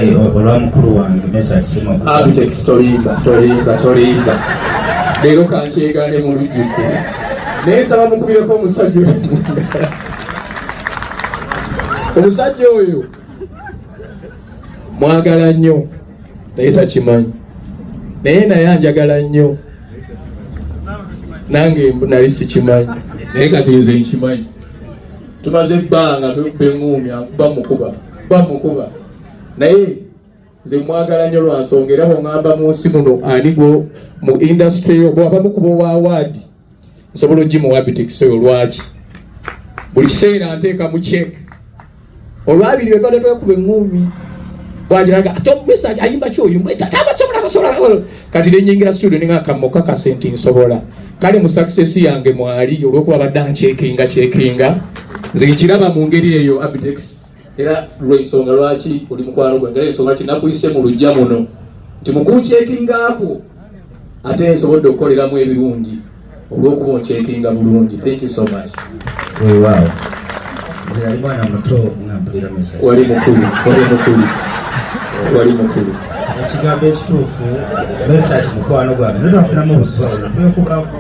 olwa mukulu wange mesa kisemabitex tolimba tolimba tolimba leero kankyegane mu lujjudde naye nsaba mukubireko omusajja oyo omusajja oyo mwagala nnyo naye takimanyi naye naye anjagala nnyo nange nali sikimanyi naye kati nze nkimanyi tumaze ebbanga tukuba eŋuumya bamukuba bamukuba naye nze mwagala nnyo lwa nsonga era bwongamba mu nsi muno ani gwo mu indasitule yo bwabamukuba owa waadi nsobola ogimuwa bitekiseyo lwaki buli kiseera nteeka mu cek olwabiri webadde twekuba eŋuumi bwagiraga ate omumesa ayimba kyoyo mwetata abasobola abasobola kati nenyingira studio ninga kammo kakase nti nsobola kale mu success yange mwali olwokuba badde ankyekinga kyekinga nze nkiraba mu ngeri eyo abitex era lwensonga lwaki oli mukwano gwange era ensonga lwaki nakuyise mu lujja muno nti mukunkyekingaako ate nsobodde okukoleramu ebirungi olwokuba oncekinga bulungi thank you so much weewaawo nze yali mwana muto nga mpulira mesa wali mukulu wali mukulu wali mukulu ekigambo ekituufu mesaki mukwano gwange naye twafunamu obuzibu awo twekubaako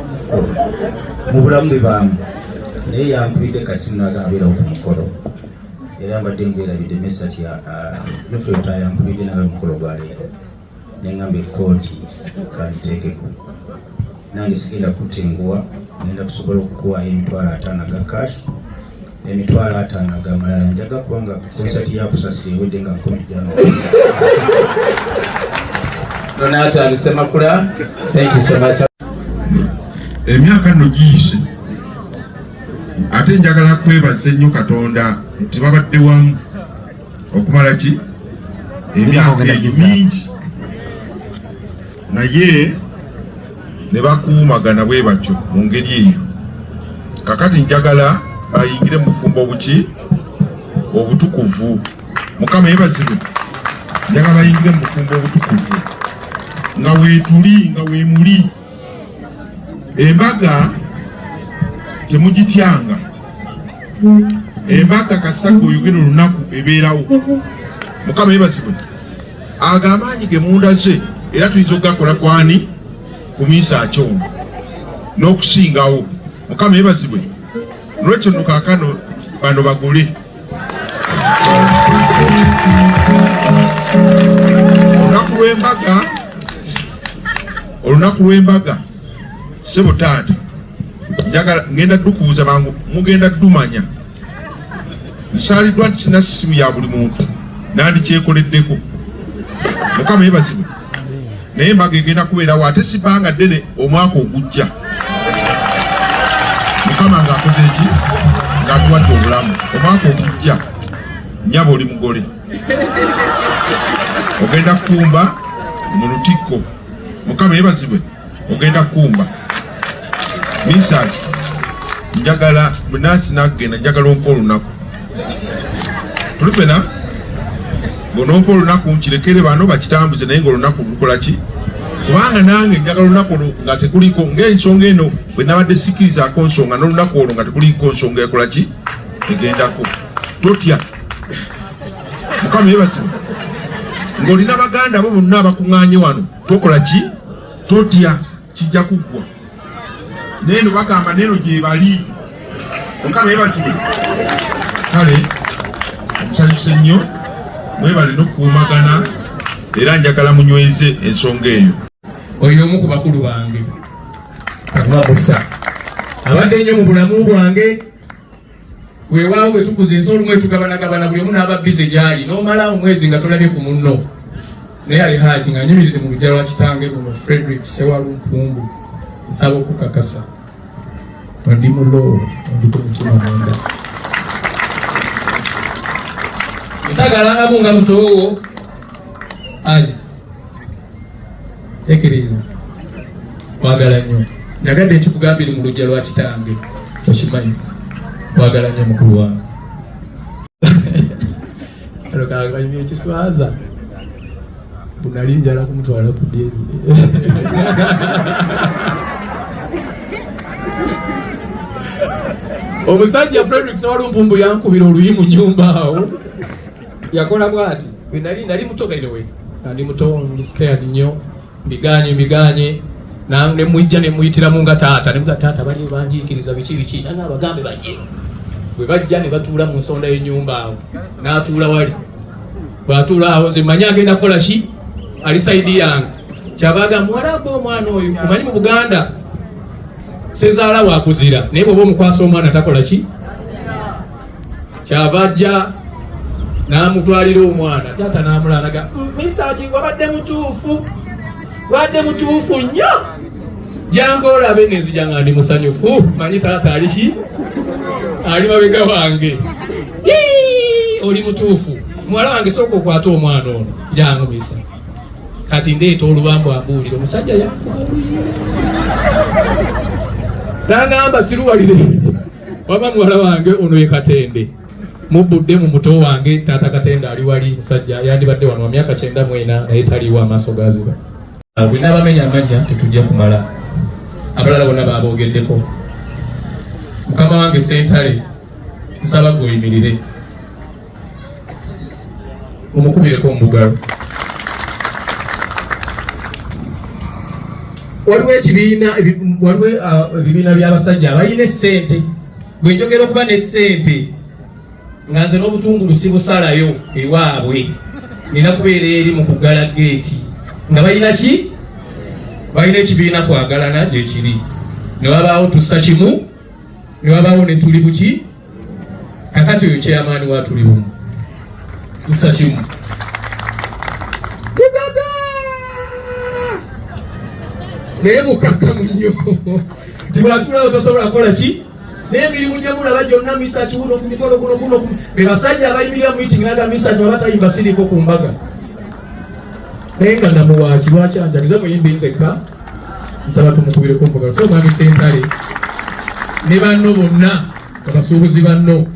mu bulamu bibaamu naye yankubidde kasimu nagabeera ku mukolo era mbadde ngwerabidde mesaki nofeotayankubidde nawe mukolo gwaleero nengamba ekkooti kaliteekeko nange sigenda kutenguwa ngenda kusobola okukuwaayo emitwalo ataano aga cash emitwalo ataano aga malala njaga kubanga konsati yakusasira ewedde nga nkumi jano nonatandise makula thank you so much emyaka no giyise ate njagala kwebaza ennyo katonda nti babadde wamu okumala ki emyaka egyo mingi naye ne bakuumagana bwe batyo mu ngeri eyo kakati njagala bayingire mu bufumbo obuki obutukuvu mukama yebazibwe njagala bayingire mu bufumbo obutukuvu nga wetuli nga wemuli embaga temugityanga embaga kasaga oyogera olunaku ebeerawo mukama yebazibwe ago amaanyi ge munda ze era tuyinza okugakola kwani ku minsi akyona n'okusingawo mukama yebazibwe nolwekyo nokakano bano bagole olunaku lw'embaga olunaku lw'embaga sebo taata njagala ngenda dukuuza bangu mugenda dumanya nsaaliddwa nti sina simu ya buli muntu nandikyekoleddeko mukama yebazibwe naye embaga egenda kubeerawo ate sibanga ddene omwaka ogujja mukama ng'akoze eki ng'atuwadde obulamu omwaka ogujja nyaba oli mugole ogenda kukumba mu lutikko mukama yebazibwe ogenda kumba misaki njagala munansi nakugenda njagala onka olunaku tuli fena ngonompa olunaku nkirekere bano bakitambuze naye ngaolunaku lukolaki kubanga nange njagala olunaku olwo nga tekuliko ngaensonga eno bwenabadde sikirizaako nsonga nolunaku olwo nga tekuliko nsonga ekolaki egendako totya mukama yebasimu ng'olina baganda bo bonna abakuŋŋaanye wano tokola ki totya kijja kuggwa neno bagamba neno gyebali omukama yebazibwe kale omusanyuse nnyo mwebale nokukuumagana era njagala munyweze ensonga eyo oyo omu ku bakulu bange kababusa abadde nnyo mu bulamu bwange weewaawo bwe tukuza ensi olumu etugabanagabana buli omu n'aba bize gy'ali n'omala omwezi nga tolabye ku munno naye ali haaki nga nyumirire mu lujja lwa kitange luno frederick sewalumpumbu nsaba okukakasa ndi mu loo ndiko mutima munda ntagalangamu nga mutoowo aja tekiriza kwagala nnyo nagadde nkikugambire mu lujja lwa kitange okimanyi kwagala nnyo mukulu wange alokakanyumya ekiswaza bunali njala kumutwala ku dyeri omusajja frederick sewalumpumbu yankubira oluyi mu nyumba awo yakola bwati bwe nali nali muto berewe nali muto scared nnyo mbiganye mbiganye ne mwijja ne muyitiramu nga taata ne taata bali banjikiriza biki biki nanga abagambe bajje bwe bajja ne batuula mu nsonda y'ennyumba awo n'atuula wali bw'atuula awo nze manya agenda kukola ki ali saidi yange kyabaga muwarabu omwana oyo omanyi mu buganda sezaala wakuzira naye bwoba omukwasa omwana takola ki kyava ajja n'amutwalira omwana taata n'amulanaga mm, misaki wabadde mutuufu wabadde mutuufu nnyo jangu olabe nenzija nga ndi musanyufu manyi taata aliki ali mabega wange oli mutuufu muwala wange sooka okwata omwana ono jangu misa kati ndeeta olubambu ambuulire omusajja yakuba nangamba siruwalire waba muwala wange ono ye katende mubbudde mu muto wange taata katende ali wali musajja yandibadde wano wa myaka kyenda mwena naye taliwo amaaso gaziba ah, bwe n'abamenya amanya tetujja kumala abalala bona baaboogeddeko mukama wange sentale nsaba gweyimirire mumukubireko omubugalo waliwo ekibiina waliwo uh, ebibiina by'abasajja abalina essente bwe njogera okuba n'essente nga nze n'obutungulu sibusalayo ewaabwe nina kubeera eri mu kuggala geeti nga balina ki balina ekibiina kwagalana gyekiri ne wabaawo tussa kimu ne wabaawo ne tuli buki kakati oyo chairman wa tuli bumu nsa kimu mudada naye mukakkamu nnyo nti bwatulawo tosobola kukola ki naye emirimu gye mulaba gyonna misa kiwuno ku mikolo guno guno be basajja abayimirira mu mitingi naga misa gye babatayimba siriiko ku mbaga naye nga namuwaaki lwaki anjagiza muyimbi nzekka nsaba tumukubire kumbuga so mwami sentale ne banno bonna abasuubuzi banno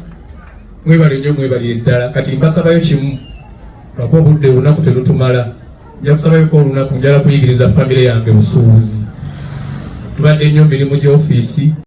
mwebale nnyo mwebalire ddala kati mbasabayo kimu lwakuba obudde olunaku telutumala nja kusabayoko olunaku njala kuyigiriza famire yange busuubuzi tubadde nnyo mirimu gy'ofiisi